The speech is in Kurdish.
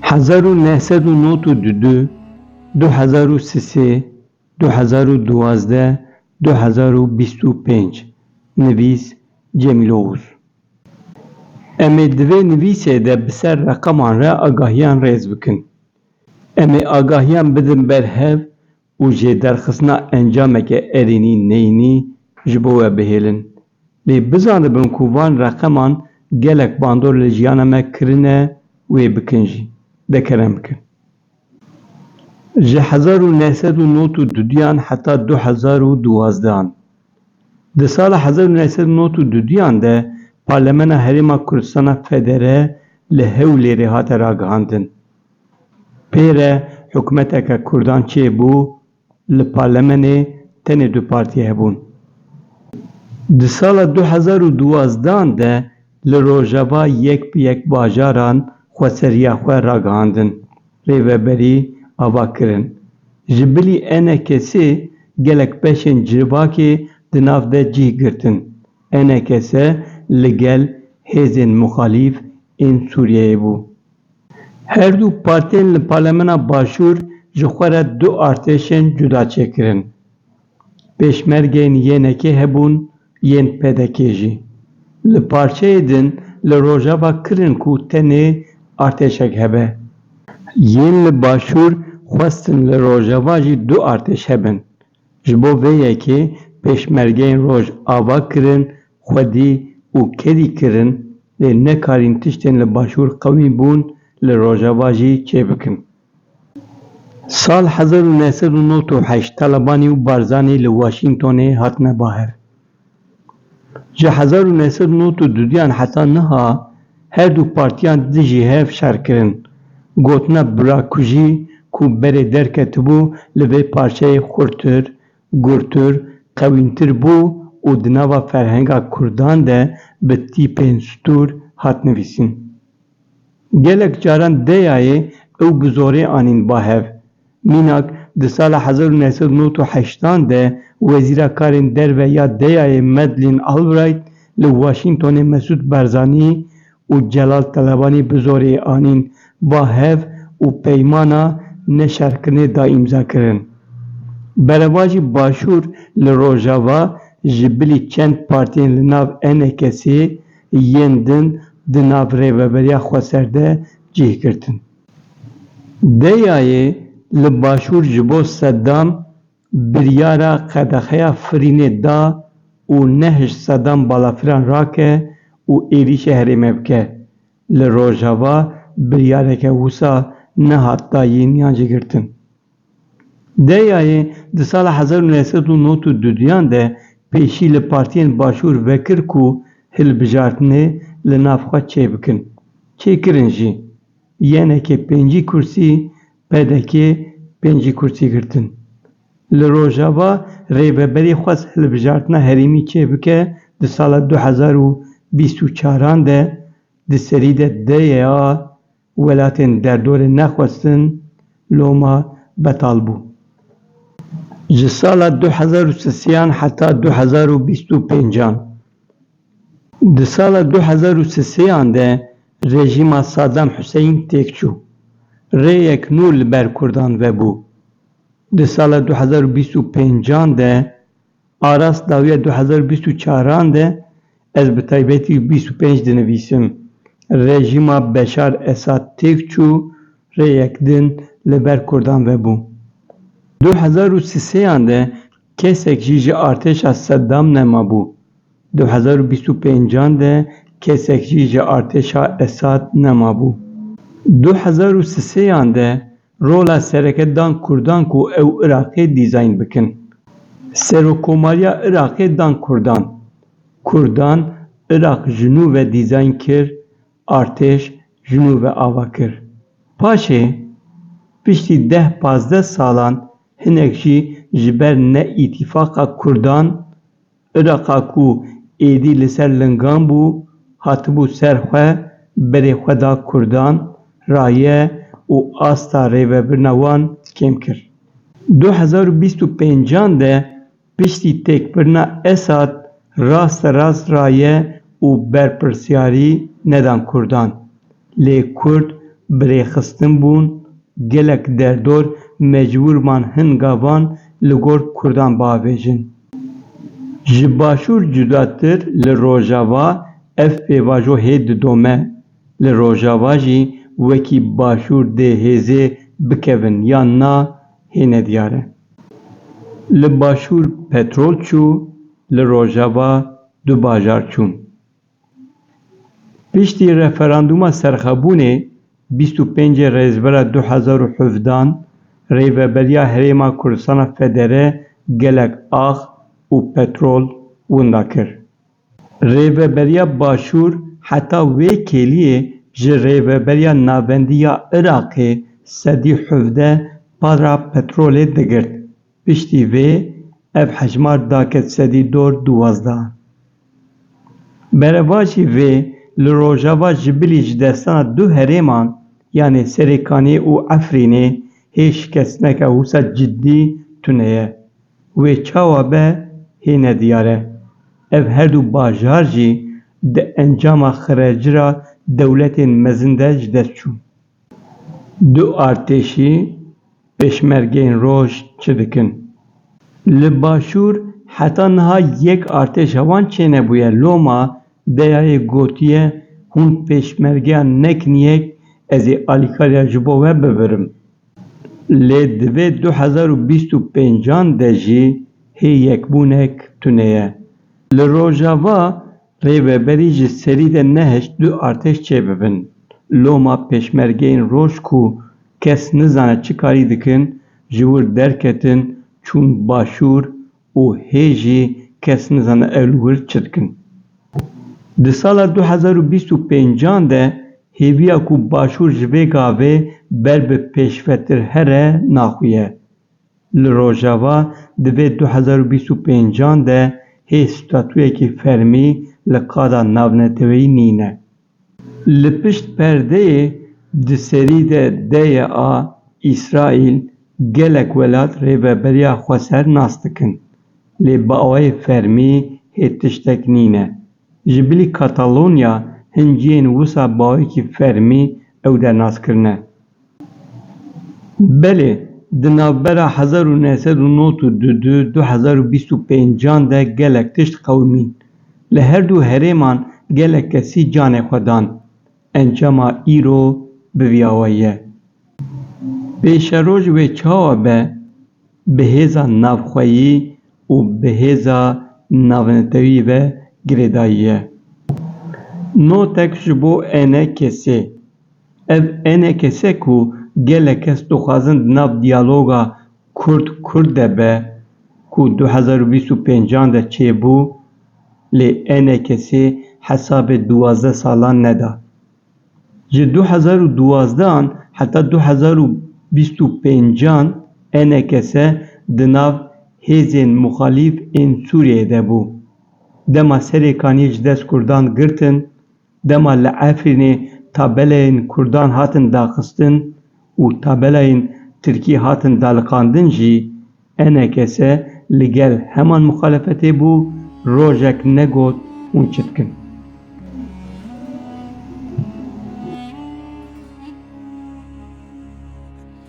Hezar û neh sed û not û du du, du hezar û si sê, du hezar û duwazdeh, du hezar û bîst û pênc Nivîs, Cemîl Oxuz Em ê di vê nivîsê de bi ser reqeman re agahiyan rêz bikin. Em ê agahiyan bidin ber hev û jê derxistina encameke erênî neyînî ji bo we bihêlin. Lê bizanibin ku van reqeman gelek bandor li jiyana me kirine wê bikin jî, de kerem bikin. Ji hezar û neh sed û nod û dudiyan heta du hezar û duwazdehan. Di sala hezar û neh sed û nod û dudiyan de Parlemena Herêma Kurdistana Federe li Hewlêrê hate ragihandin. Pêre hikûmeteke kurdan çêbû, li parlemenê tenê du partî hebûn. Di sala du hezar û duwazdeh de li rojava yek bi yek bajaran xweseriya xwe ragihandin, rêveberî ava kirin. Ji bilî ENK'ê gelek beşên civakê di nav de cih girtin. ENK'ê li gel hêzên muxalîf ên Sûriyeyê bû. Her du partiyên li Parlemena Başûr ji xwe re du artêşên cuda çêkirin. Pêşmergeyên YNKê hebûn, yên PDKê jî. Li parçeyê din li Rojava kirin ku tenê artêşek hebe. Yên li Başûr xwestin li Rojava jî du artêş hebin. Ji bo vê yekê pêşmergeyên roj ava kirin, xwedî û kedî kirin lê nekarîn tiştên li başûr qewî bûn li rojava jî çêbikin. Sal hezar û neh sed û nod û heşt Talebanî û Barzanî li Washingtonê hatine baher. Ji hezar û neh sed û nod û duyan heta niha her du partiyan dijî hev şer kirin. Gotina birakujî ku berê derketibû li vê parçeyê xurtir, gurtir, qewîntir bû û di nava ferhenga kurdan de bi tîpên stûr hat nivîsîn. Gelek caran deyayê ew bi zorê anîn ba hev. Mînak, di sala hezar û neh sed û nod û heştan de Wezîra Karên Derve ya DEAyê Madeleine Albright li Washingtonê Mesûd Barzanî û Celal Talebanî bi zorê anîn ba hev û peymana neşerkirinê da îmzakirin. Berevajî Başûr li Rojava ji bilî çend partiyên li nav NKS'ê yên din di nav rêveberiya xweser de cih girtin. Deyayê li başûr ji bo Sedam biryara qedexeya firînê da û nehişt Sedam balafiran rake û êrîşê herême bike. Li rojava biryareke wisa nehat dayîn yan jî girtin. Deyayê di sala hezar û neh sed û nod û du duyan de pêşî li partiyên Başûr vekir ku hilbijartinê li nav xwe çêbikin. Çêkirin jî. YNK pêncî kursî, pdk pêncî kursî girtin. Li Rojava Rêveberî xwest hilbijartina herêmî çêbike di sala du hezar û bîst û çaran de di serî de DYA Welatên derdorê nexwestin loma betal bû. Ji sala du hezar û sisiyan heta du hezar û bîst û pêncan. Di sala du hezar û sisiyan de rejîma Sadam Huseyîn têk çû. Rêyek nû li ber kurdan vebû. Di sala du hezar û bîst û pêncan de Aras dawiya du hezar û bîst û çar an de ez bi taybetî bîst û pênc dinivîsim. Rejîma Beşar Esad têk çû, rê yek din li ber kurdan vebû. Du hezar û sisê an de kesek jî ji artêşa Seddam nemabû. Du hezar û bîst û pênc an de kesek jî ji artêşa Esad nemabû. Du hezar û sisê an de Rola sereke dan kurdan ku ew Iraqê dîzayn bikin. Serokkomariya Iraqê dan kurdan. Kurdan Iraq ji nû ve dîzayn kir, artêş ji nû ve ava kir. Paşê, piştî deh pazdeh salan hinek jî ji ber ne îtîfaqa kurdan, Iraqa ku êdî li ser lingan bû, hatibû ser xwe, berê xwe da Kurdan, raye û asta rêvebirina wan kêm kir. Du hezar û bîst û pêncan de piştî têkbirina Esad rasterast raye û berpirsyarî nedan Kurdan. Lê kurd bi rêxistin bûn, gelek derdor mecbûr man hin gavan li gor kurdan biavêjin. Ji Başûr cudatir li Rojava ev pêvajo hê didome. Li Rojava jî wekî Başûr dê hêzê bikevin yan na hê nediyar e. Li Başûr petrol çû, li Rojava du bajar çûn. Piştî referandûma serxwebûnê bîst û pêncê Rêzbera du hezar û hevdan Rêveberiya Herêma Kurdistana Federe gelek ax û petrol winda kir. Rêveberiya Başûr heta wê kêliyê ji Rêveberiya Navendî ya Iraqê sedî hevdeh para petrolê digirt Piştî vê ev hejmar daket sedî dor duwazda. Berevajî vê li rojava ji bilî ji destana du herêman yanê Serêkaniyê û Efrînê hê şikestineke wisa cidî tune ye. Wê çawa be hê nediyar e. Ev her du bajar jî di encama xirercira dewletên mezin de ji dest çûn. Du artêşî Pêşmergeyên Roj çi dikin? Li Başûr heta niha yek artêşa wan çênebûye. Loma DYA'yê gotiye, Hûn Pêşmergeya nekin yek, ez ê alîkariya ji bo we bibirim. Lê divê du hezar û bîst û pêncan de jî hê yekbûnek tune ye. Li Rojava Rêveberî ji serî de nehişt du artêş çêbibin. Loma pêşmergeyên roj ku kes nizane çi karî dikin, ji wir derketin çûn başûr û hê jî kes nizane ew li wir çi dikin. Di sala du hezar û bîst û pênc an de hêviya ku başûr ji vê gavê ber bi pêşvetir here naxuye. Li Rojava di vê du hezar û bîst û pênc an de hê statuyekî fermî li qada navneteweyî nîne. Li pişt perdeyê di serî de deye a Îsraîl gelek welat rêveberiya xwe ser nas dikin. Lê bi awayê fermî hê tiştek nîne. Ji bilî Katalonya hin ciyên wisa bawekî fermî ew dernazkirine. Belê, di navbera hezar û neh sed û nod û du du û du hezar û bîst û pênc an de gelek tişt qewimîn. Li her du herêman gelek kesî canê xwe dan. Encama îro bi vî awe ye. Pêşeroj wê çawa be, bi hêza navxweyî û bi hêza navnetewî ve girêdayî ye. Notek ji bo ene kesê, Ev ene kes e ku gelek kes dixwazin di nav diyaloga Kurd-Kurd de be ku du hezar û bîst û pênc de çêbû lê ene kesê hesabê duwazdeh salan neda. Ji du hezar û duwazdeh an heta du hezar û bîst û pênc ene kese di nav hêzên muxalîf ên Sûriyeyê de bû. Dema serê kaniyê ji dest Kurdan girtin Dema li Efrînê tabelayên kurdan hatin daxistin û tabelayên tirkî hatin daliqandin jî ENKS li gel heman muxalefetê bû, rojek negot hûn çi dikin.